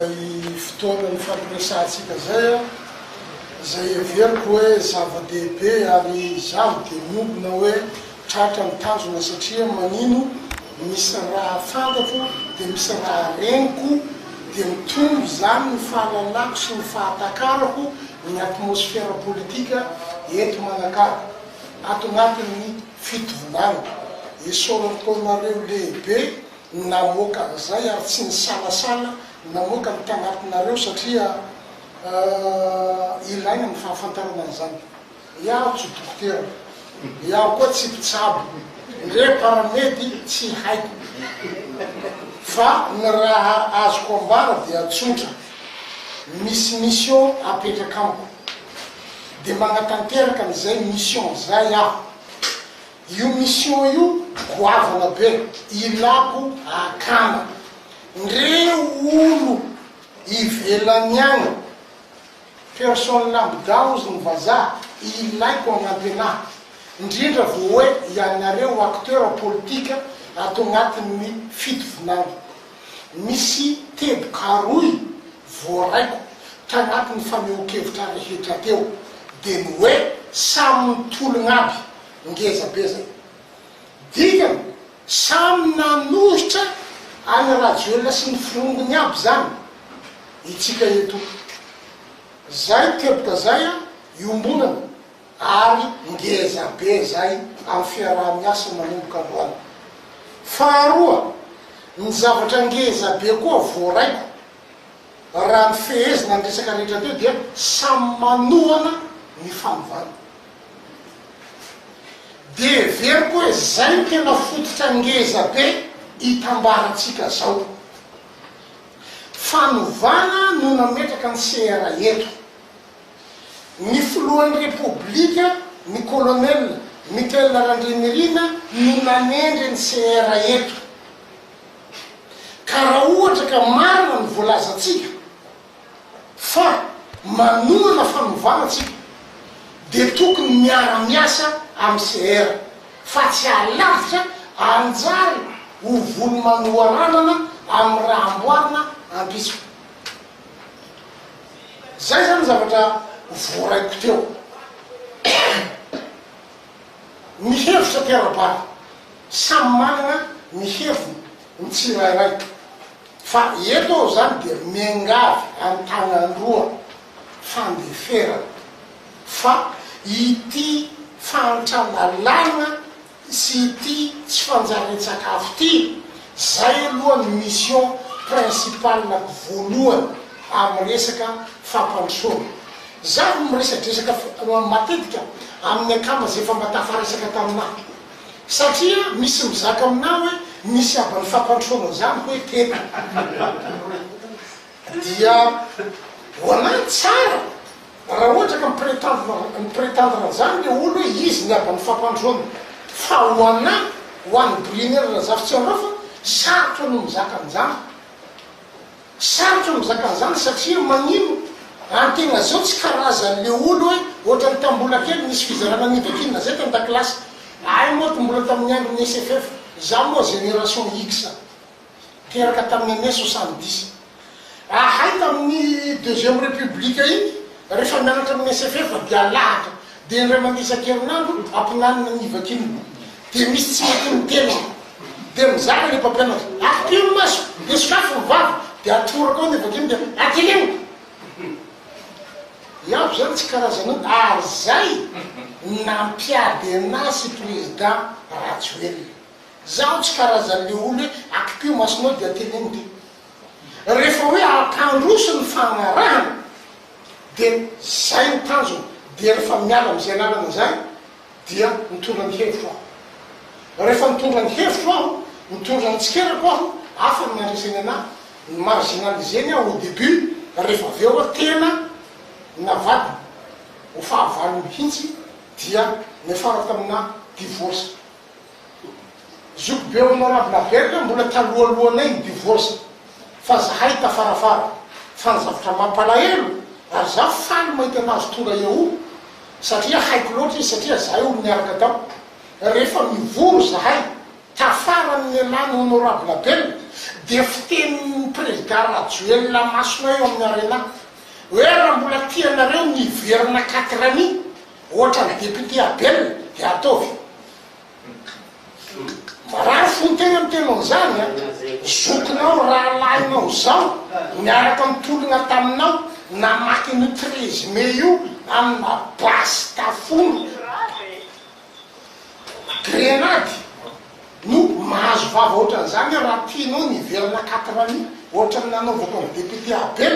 Izay fotoana nifampiresahantsika izay, izay heveriko hoe zava-dehibe ary izaho dia niombona hoe tratra ny tanjona satria manino misy raha fantatro dia misy raha reniko dia mitombo izany ny fahalalako sy ny fahatakarako ny atmosfera politika eto Manakara ato anatin'ny fitovonana. Esorako anareo lehibe. Namoaka an'izay ary tsy nisalasala namoaka ny tanatinareo satria ilaina ny fahafantarana an'izany. Iaho tsy dokotera, iaho koa tsy mpitsabo, ndre paramedy tsy haiko. Fa ny raha azoko ambara dia tsotra, misy mission apetraka amiko, dia manatanteraka an'izay mission izay aho. Io mission io goavana be, ilako akana ndreo olo ivelany agny, personne lambda ozy ny vazaha ilaiko agnampy anah, ndrindra vo oe ianareo acteur politika ato agnatin ny fito volagny, misy teboka roy voaraiko tagnatin ny fanehonkevitra rehetra teo, de ny oe samy mitologna aby ngeza be zay. Dikany samy nanohitra an'i Rajoelina sy ny forongony aby zany itsika eto. Zay teboka zay an iombonana ary ngeza be zay am fiaraha-miasa manomboka androany. Faharoa ny zavatra ngeza be koa voaraiko raha ny fehezina ny resaka rehetra teo dia samy manohana ny fanovana. Dia heveriko hoe izay no tena fototra ngeza be itambarantsika zao. Fanovana no nametraka ny CRA eto. Ny filohan'ny Repoblika, ny Colonel Michael Randrianirina no nanendry ny CRA eto. Ka raha ohatra ka marina ny voalazantsika, Fa manohana fanovana tsika dia tokony miara miasa am CR fa tsy alavitra anjary ho volo manoharanana am raha amboarina ampitsiko. Zay zany zavatra voaraiko teo. Ny hevitra Pierre Bary, samy manana ny heviny ny tsirairay. Fa eto aho izany dia miangavy an-tanan-droa fandeferana fa ity fahantran-dalàna sy ity tsy fanjarian-tsakafo ity, izay aloha ny mission principale voalohany amin'ny resaka fampandrosoana. Izaho miresadresaka matetika amin'ny akama izay efa mba tafaresaka taminà. Satria misy mizaka aminao hoe misy haban'ny fampandrosoana izany hoy tena dia ho anahy tsara raha ohatra ka mi-pretendre mi-pretendre an'izany le olo hoe izy ny haban'ny fampandroana fa ho anahy ho an'i Brienier Razafitsiandraofa sarotra no mizaka an'izany. Sarotra ny mizaka an'izany satria magnino raha ny tegna zao tsy karazany le olo hoe ohatrany tam mbola kely nisy fizarana niva kinina zay tan dakilasy ahay moa ty mbola tamin'ny andron'ny SFF za moa génération X teraka tamin'ny année soixante dix ahay tamin'ny deuxième république igny refa mianatra amin'ny SFF dia alahatra Dia indray mandeha isan-kerinandro ampianarina ny vakiolona. Dia misy tsy mahaky ny teny. Dia mizara ilay mpampianatra, ampio ny maso, dia sokafy ny vava, dia atoraka ao ny vakiolona dia ateleho. Ianko izany tsy karazanao. Ary izay nampiady an'ahy sy prezida Rajoelina. Izaho tsy karazan'ilay olona hoe ampio masonao dia ateleho ny teny. Rehefa hoe ampandroso ny fagnarahana dia zay ny tanjona dia rehefa miala amin'izay lalana izay dia mitondra ny hevitro aho. Rehefa mitondra ny hevitro aho, mitondra ny tsikerako aho, hafa ny mandreseny anahy, ny marginaliser-ny aho au début rehefa avy eo aho tena navadina ho fahavalo mihintsy dia niafarako tamina divorce. Zoky be hono Ravinavelo e, mbola talohalohanay ny divorce fa zahay tafarafara, fa ny zavatra mampalahelo ary za faly mahita anazy tonga eoh satria haiko loatra izy satria zahay olo niaraka tao rehefa mivory zahay tafarany ny elan'ny honorable bel dia fitenin'ny prezida rajoelina masonay eo amin'ny arena hoe raha mbola tianareo ny hiverina quatre anni ohatrany député abel dia ataovy Marary fo tena miteny an'izany an! Zokinao, rahalahinao zao niaraka nitologna taminao namaky an'io treize mai io amina basy tafona grenady no mahazo vava ohatran'izany an! Raha tianao ny hiverina quatre années ohatran'ny nanaovako an'i député Abel,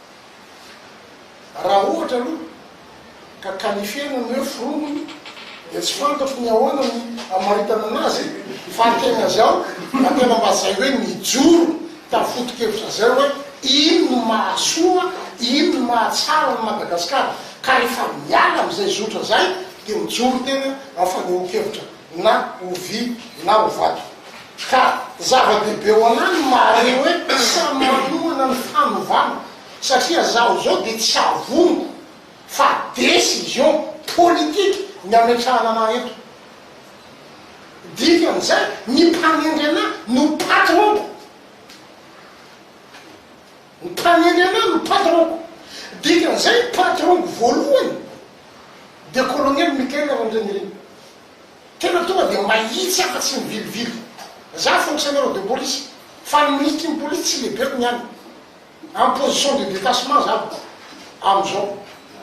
Raha ohatra aloha ka qualifier ny hoe foronina dia tsy fantatro ny ahoana ny hamaritana anazy fa akeny azy aho raha tena mba zay hoe mijoro tamin'ny foto-kevitra zay hoe ino no mahasoa, ino no mahatsara an'i Madagasikara ka rehefa miala amin'izay zotra zay dia mijoro tena amin'ny fanehoan-kevitra. na ho vy na ho vato. Ka zava-dehibe ho anà ny mahare hoe samy manohana ny fanovana, satria zaho izao dia tsy avoniko fa decision politique ny ametrahana anà eto. Dikan'izay, ny mpanendry anà no patron-ko. Ny tany eny ialahy no patron-ko. Dikan'izay ny patron-ko voalohany dia Kolonely Michael Randrianirina. Tena tonga dia mahitsy afa-tsy ny vilivily. Za fonctionnaire de police fa ny ministry ny police tsy lehibeko ny any. En position de detachement za amin'izao.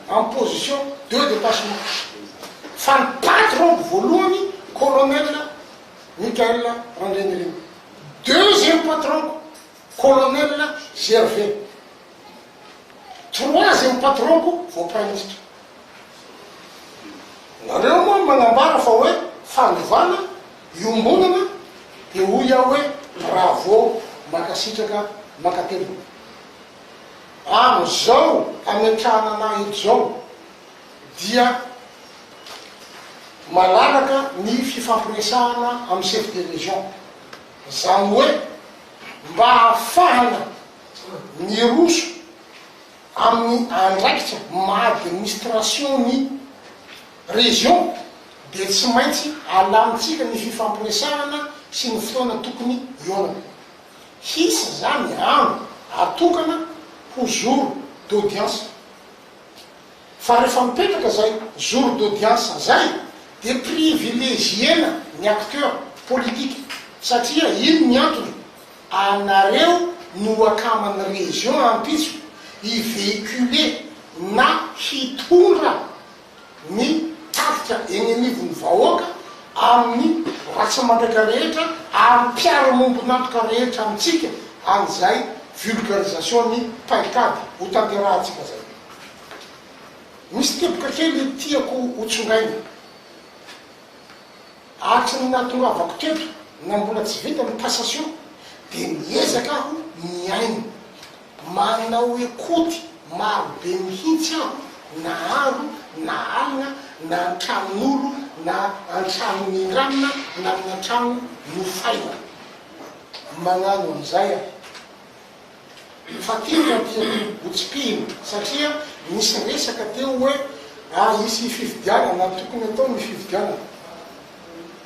En position de detachement. Fa ny patron-ko voalohany Kolonely Michael Randrianirina. Deuxième patron-ko. Colonel Gervais. Toroha zay ho patron-ko vao praiminisitra. Nareo moa magnambara fa hoe fandovana, iombonana dia hoy aho hoe bravo, mankasitraka, mankatelina. Amin'izao hametrahana anah eto izao dia malalaka ny fifampiresahana amin'ny chef de région. Izany hoe. mba hahafahana miroso amin'ny andraikitra maha administration ny région dia tsy maintsy alamintsika ny fifampiresahana sy ny fotoana tokony hionana. Hisy izany andro atokana ho jour d'audience Fa rehefa mipetraka zay jour d'audience zay dia privilegiena ny acteurs politiques satria ino ny antony? anareo no akaman'ny région ampitso hi véhiculer na hitondra ny tafika eny anivon'ny vahoaka amin'ny mpivarotra mandraka rehetra ary ny mpiara-mombon'antoka rehetra amintsika an'izay vulgarisation-n'ny paikady hotanterahantsika izay. Misy teboka kely tiako hotsongaina. Araka ny nahatongavako teto na mbola tsy vita ny passation dia miezaka aho mihaino. Manao ekoty maro be mihitsy aho na andro na alina na an-tranon'olo na an-trano nindramina na amina trano nofaina. Magnano an'izay aho. Fa tiako aty Antobotsipihina satria nisy resaka teo hoe a hisy fifidianana, tokony atao ny fifidianana.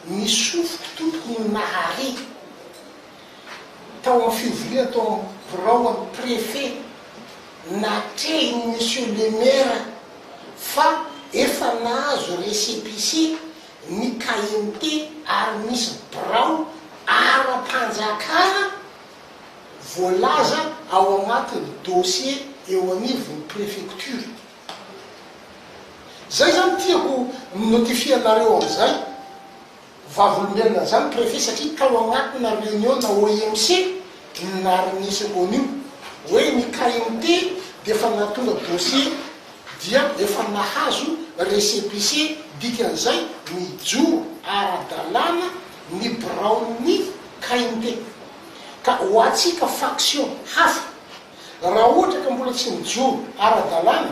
Ny sofiko tompoko no nahare. tao amin'ny fivoriana tao amin'ny biraon'ny Préfet, natrehin'i Monsieur le Maire fa efa nahazo récépissé ny KMT ary misy birao ara-panjakana voalaza ao anatin'ny dossier eo anivon'ny Préfecture. Izay izany tiako notifier anareo amin'izay Vavolombelona zany prefet satria tao agnatina reunion na OIMC no naharegneseko an'io hoe ny KMT dia efa nahatonga dossier dia efa nahazo récépissé dikan'izay mijoro ara-dalàna ny biraon'ny KMT ka ho antsika faction hafa raha ohatra ka mbola tsy mijoro ara-dalàna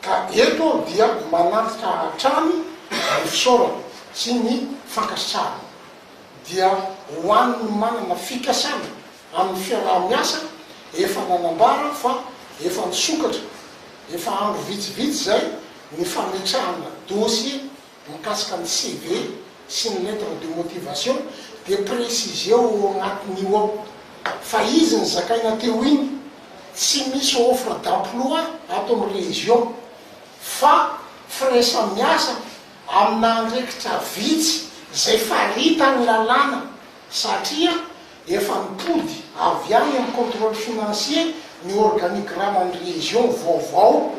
Ka eto aho dia manantitra hatrany ny fisaorana sy ny fankasitrahana dia ho an'ny manana fikasana amin'ny fiaraha-miasa efa nanambara fa efa nisokatra efa andro vitsivitsy izay ny fametrahana dosie Mikasika ny CV sy ny lettre de motivation dia preciseo ao anatiny io ao fa izy ny zakaina teo iny tsy misy offre d'emploi ato amin'ny région fa firaisan-miasa amina andraikitra vitsy izay faritan'ny lalàna satria Efa nitody avy any amin'ny contrôle financier ny organigraman'ny région vaovao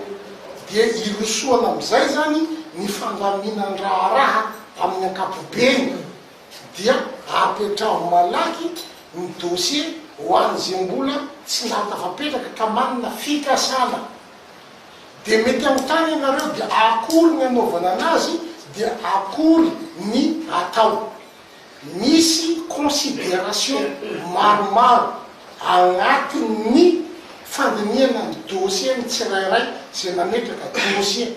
dia irosoana amin'izay izany ny fandaminandraharaha amin'ny ankapobeny dia apetraho malaky ny dossier ho an'izay mbola tsy nahatafapetraka ka manana fikasana dia mety anontany ianareo dia akory ny anaovana anazy dia akory ny atao Misy consideration maromaro agnatin'ny fandinihana ny dossier ny tsirairay izay mametraka dossier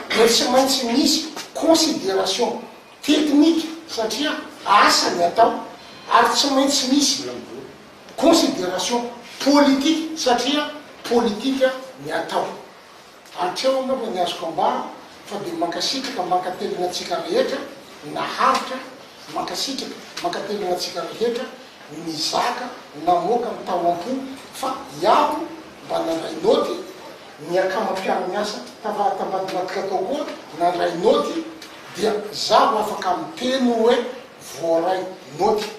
dia tsy maintsy misy consideration technique satria asa ny atao ary tsy maintsy misy consideration politique satria politika ny atao. Hatreo angamba ny azoko ambara fa dia mankasitraka mankatelina antsika rehetra naharitra mankasitraka mankatelina antsika rehetra nizaka namoaka ny tao ampo fa iaho mba nandray naoty ny akama mpiaro miasa tava tambadibadika tao koa nandray naoty dia zaho afaka miteny oe voaray naoty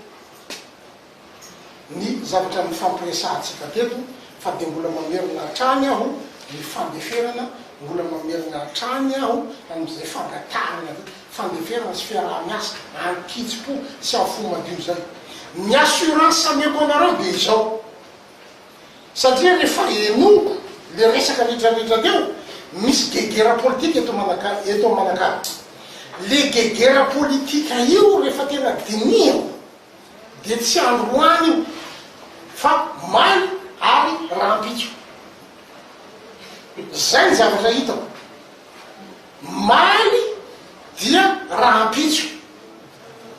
ny zavatra nifampiresahantsika teto fa dia mbola mamerina hatrany aho ny fandeferana, mbola mamerina hatrany aho amin'izay fangatahana hoe fandeferana sy fiaraha-miasa an-kitsim-po sy amin'ny fo madio izay. Ny assurance ameko anareo dia izao, satria rehefa henoko ilay resaka retraretra teo, misy gegera politika eto Manakara, eto Manakara. Ilay gegera politika io rehefa tena dinihako, dia tsy andro ho any io fa may ary rahampitso. Izay ny zavatra hitako. May dia rahampitso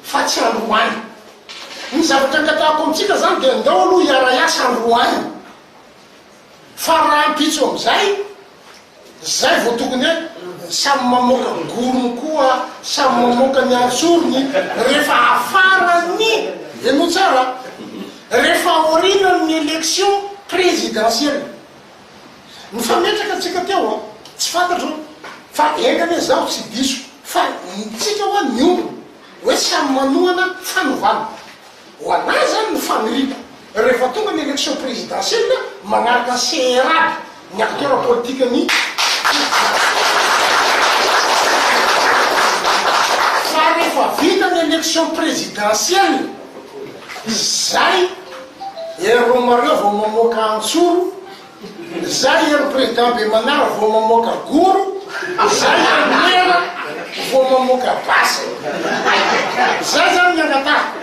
fa tsy andro ho any. Ny zavatra angatahako amintsika izany dia ndao aloha hiara-hiasa andro ho any. Fa rahampitso amin'izay, izay vao tokony hoe samy mamoaka gorony koa samy mamoaka ny antsorony rehefa afaran'ny, henoy tsara a, rehefa aorianan'ny election présidentielle. Nifametraka tsika teo an, tsy fantatro fa enga anie izaho tsy diso fa ny tsika ho'a niombona hoe samy manohana fanovana. Ho an'ahy izany ny faniriako, rehefa tonga ny élection présidentielle, manaraka CR aby ny acteurs politiques-n'ny Fa rehefa vita ny élection présidentielle, izay erroma-reo vao mamoaka antsoro, Zay ian'ny président be manara vao mamoaka goro, zay ian'ny mena vao mamoaka basy. Zay zany ny angataha.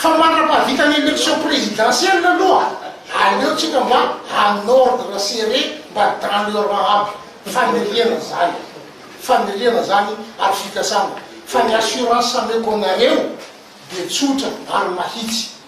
Fa mandra-pahavita ny élection présidentielle aloha, aleo tsika mba en ordre serré mba dans le rang aby. Faniriana zany. Faniriana zany ary fikasana. Fa ny assurance ameko anareo dia tsotra ary mahitsy.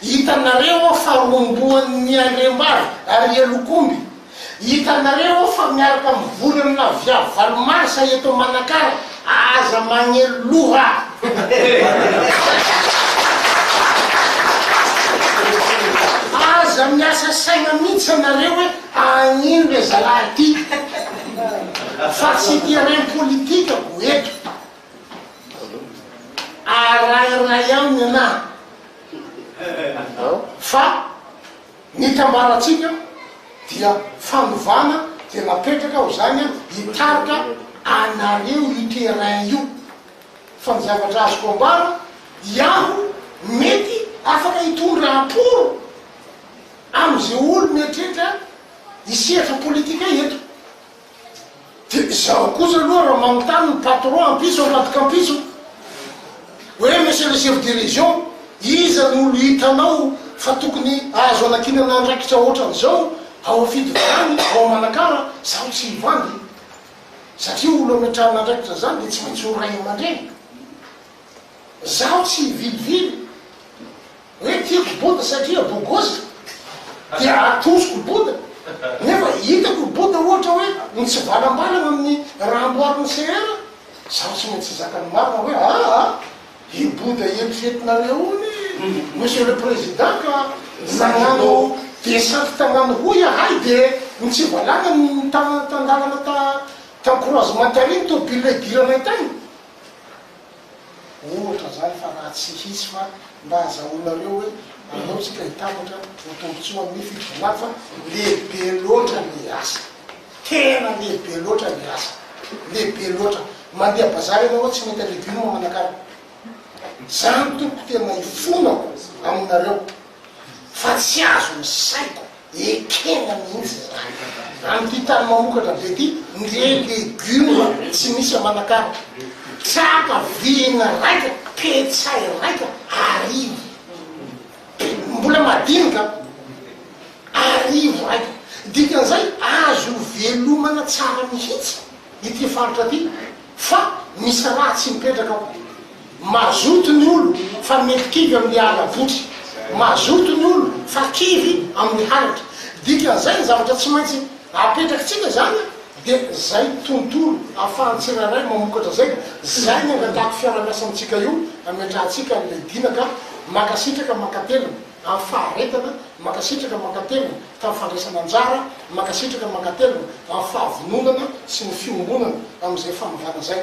Hitanareo aho fa rombohan' ny andriambavy ary ialokomby. Hitanareo aho fa miaraka mivory amina viavy valo marsa eto Manakara. Aza magnelo loha. Aza miasa saina mintsy anareo hoe agnino le zalahy ty. Fa tsy terrain politika ko eto. Arahina ihany ny anarana fa ny itambarantsika dia fanovana dia napetraka ho izany hitarika anareo io terrain io fa ny zavatra azoko ambara iaho mety afaka hitondra aporo amin'izay olo mieritreritra hisehatra politika eto. Dia izaho kosa aloha raha manontany ny patron ampitso ambadika ampitso hoe monsieur le chef de région iza no olo hitanao fa tokony azo anakinana andraikitra ohatran'izao ao Afidivan ao Manakara zaho tsy hivandy satria olo ametrahana andraikitra zany dia tsy maintsy ho ray aman-dreny zaho tsy hivilivily Hoe tiako Bouddha satria bogos dia atosiko Bouddha, nefa hitako i Bouddha ohatra hoe mitsivalambalana amin'ny raha amboarin'i CR, zaho tsy maintsy hizaka ny marina hoe aa i Bouddha eritreretinareo io anie Monsieur le Président ka nagnano descente tagnano hoy ahay de nitsivalana nitana tan-dalana ta tan-croisement tary ny tôbile idiranay tagny. ohatra zany fa raha tsy hisy fa mba hazahoanareo hoe anao tsika hitambatra ho tombotsoa amin'ny fitondrana fa lehibe loatra ny asa tena lehibe loatra ny asa lehibe loatra mandeha bazary ianao tsy mahita legioma manakara zany tompoko tena hifona aminareo fa tsy azo ny saiko Ekena mihitsy izany. Amin'ity tany mamokatra be ity, ndre legioma tsy misy aman'akara. Tsapa vihina raika, petsay raika, arivo. Mbola madinika an! Arivo raika. Dikan'izay azo ivelomana tsara mihitsy ity faritra ity fa misy raha tsy mipetraka ao. Mazoto ny olo fa mihivikivy amin'ny ala votry. Mazoto ny olo fa kivy amin'ny halatra. Dikan'izay ny zavatra tsy maintsy apetrakitsika izany a, dia izay tontolo ahafahan'ny tsirairay mamokatra izay, izay ny angatahako fiarahamiasa amintsika io ametrahantsika an'ilay Dina ka. Mankasitraka mankatelina amin'ny faharetana, mankasitraka mankatelina tamin'ny fandraisana anjara, mankasitraka mankatelina amin'ny fahavononana sy ny fiombonana amin'izay fanovana izay.